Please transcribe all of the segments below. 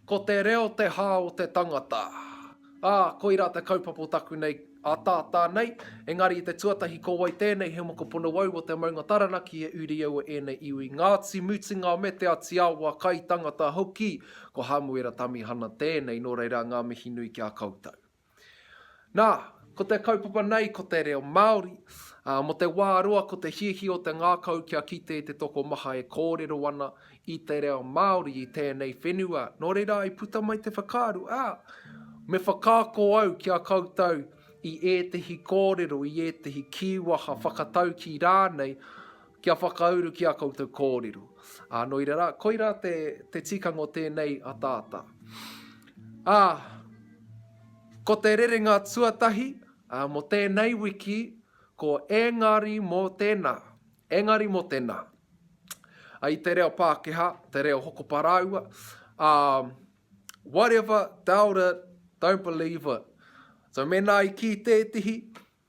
Ko te reo te hā o te tangata. Ā, koirā te kaupapa o taku nei ataata nei, engari i te tuatahi ko wai tēnei he mokopuna wau o te maunga Taranaki he uri au o ēnei iwi Ngāti Mutunga me Te Atiawa, kaitangata hoki, ko Hamuera Tamihana tēnei, nō reira ngā mihi nui ki a koutou. Nā, ko te kaupapa nei ko te reo Māori, ā, mō te wā roa ko te hiahia o te ngākau kia kite i te tokomaha e kōrero ana i te reo Māori i tēnei whenua, nō reira i puta mai te whakaaro, ā, me whakaako au ki a koutou i ētehi kōrero, i ētehi kīwaha, whakataukī rānei, Kia whakauru ki a koutou kōrero. Ā, nō reira, koirā te, te tikanga o tēnei ataata. Ā, ko te rerenga tuatahi, ā, mō tēnei wiki, ko engari mō tēnā, engari mō tēnā. Ā, i te reo Pākehā, te reo hokopa rāua, ā, whatever, doubt it, don't believe it. So, mēnā i kī tētehi,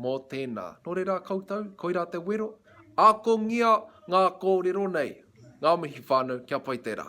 Mō tēnā. Nō reira koutou, koirā te wero, akongia ngā kōrero nei, ngā mihi whānau, kia pai te rā.